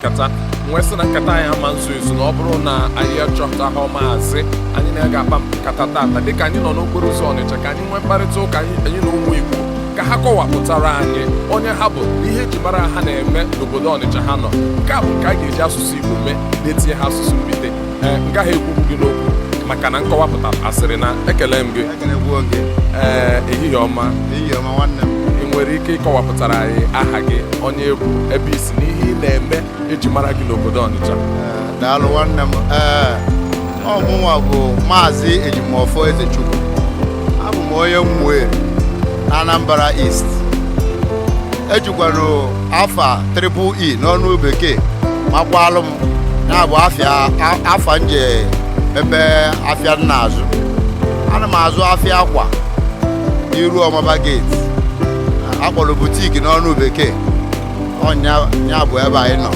nkata m wee sị na nkata anyị ama nzu ezu na ọ bụrụ na anyị achọtaha maazị anyị na ya ga-akpa nkata tata dịka anyị nọ n'okporo ụzọ ọnịcha ka anyị nwee mkparịta ụka anyị na ụmụ igbo ka ha kọwapụtara anyị onye ha bụ ihe eji mara ha na-eme n'obodo ọnịcha ha nọ nke a bụ nke a ga-eji asụsụ igbo mee na-etinyeha asụsụ mbite ee m gaghị ekwukwu gị n'okwu maka na nkọwapụta asịrị na ekele m gị ee ehihie ọma ị nwere ike ịkọwapụtara anyị aha gị onye ị bụ ebe i si n'ihe ị na-eme eji mara gị n'obodo Ọnịcha daalụ nwanne m ee ọ mụnwa bụ maazị ejimọfọ ezechukwu abụ m onye Umueri Anambra East ejikwanụ afa triple e n'ọnụ bekee makwalụ m ya bụ afịa a- afa m ji emebe afịa m na-azụ ana m azụ afịa akwa n'iru Ọmagba gate a kpọlụ butiki n'ọnụ bekee ọ nya bụ ebe anyị nọ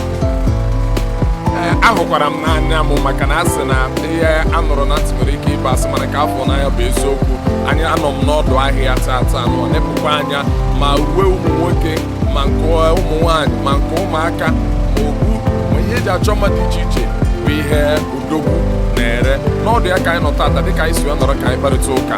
Ee, ahụkwara m n'anya m maka na a sị na ihe a nụrụ na ntị nwere ike ịbụ asị mana nke a fụ n'anya bụ eziokwu anyị anọ m n'ọdụ ahịa tata nọ nepụkwa anya ma uwe ụmụ nwoke ma nke ụmụ nwaanyị ma nke ụmụaka ma okpu ma ihe eji achọ mma dị iche iche bụ ihe odogwu na-ere n'ọdụ ya ka anyị nọ tata dịka anyị si wee nọrọ ka anyị kparịta ụka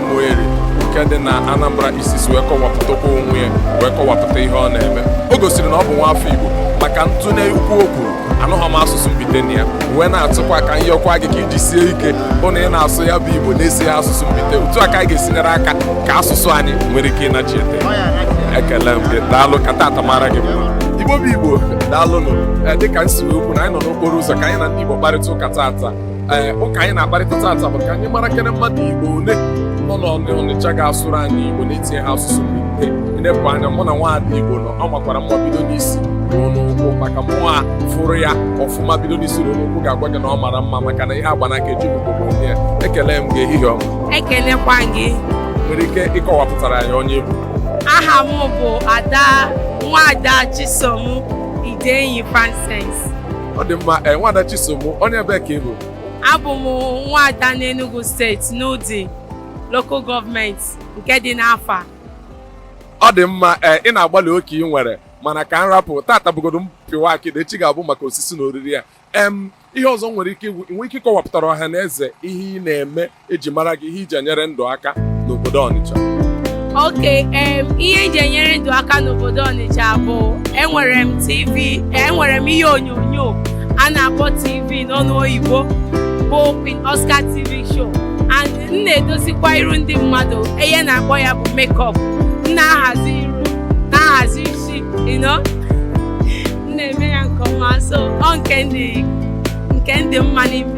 Umueri nke dị na Anambra East si wee kọwapụtakwa onwe ya wee kọwapụta ihe ọ na-eme o gosiri na ọ bụ nwa afọ Igbo maka ntụnye okwu o kwuru anụghọ m asụsụ mbite na ya wee na-atụkwa ka m yọkwaa gị ka i jisie ike bụ na ị na-asụ ya bụ Igbo na-etinyeha asụsụ mbite otu a ka anyị ga-esi nyere aka ka asụsụ anyị nwere ike ịnachite ekele m gị daalụ ka tata mara gị mma Igbo bụ Igbo daalụnụ dịka m si wee kwu na anyị nọ n'okporo ụzọ ka anyị na ndị Igbo kparịta ụka tata ee ụka anyị na-akparịta tata bụ ka anyị mara kene mmadụ igbo ole nọ n'ọnịcha ga-asụrụ anyị igbo na-etinyeha asụsụ mbite i nepụ anya mụ na nwaada igbo nọ ọ makwara mma bido n'isi ruo n'ụkwụ maka mụnwa fụrụ ya ọfụma bido n'isi ruo n'ụkwụ ga-agwa gị na ọ mara mma maka na ihe agba n'aka ejighị ugogbe ene ya ekele m gị ehihie ọma ekelekwa gị nwere ike ịkọwapụtara anyị onye ị bụ aha m bụ ada nwaada chisom idenyi francis ọ dị mma ee nwaada Chisom onye ebe ka ị bụ abụ m nwaada n'Enugu steeti n'Udi local gọọmenti nke dị n'Afa ọ dị mma ee ị na-agbalị oke ị nwere mana ka m rapụ tata bụgodo mpịwa akịdị echi ga-abụ maka osisi na oriri ya em ihe ọzọ nwere ike ịwụ- nwee ike ịkọwapụtara ọha na eze ihe ị na-eme eji mara gị ihe iji enyere ndụ aka n'obodo Ọnịcha ok ihe iji enyere ndụ aka n'obodo Ọnịcha bụ enwere m TV enwere m ihe onyonyo a na-akpọ TV n'ọnụ oyibo bụ Queen Oscar TV show and m na-edozikwa iru ndị mmadụ ihe a na-akpọ ya bụ makeup m na-ahazi iru na-ahazi isi m na-eme ya nke ọma so ọ nke ndị mụwa na-eme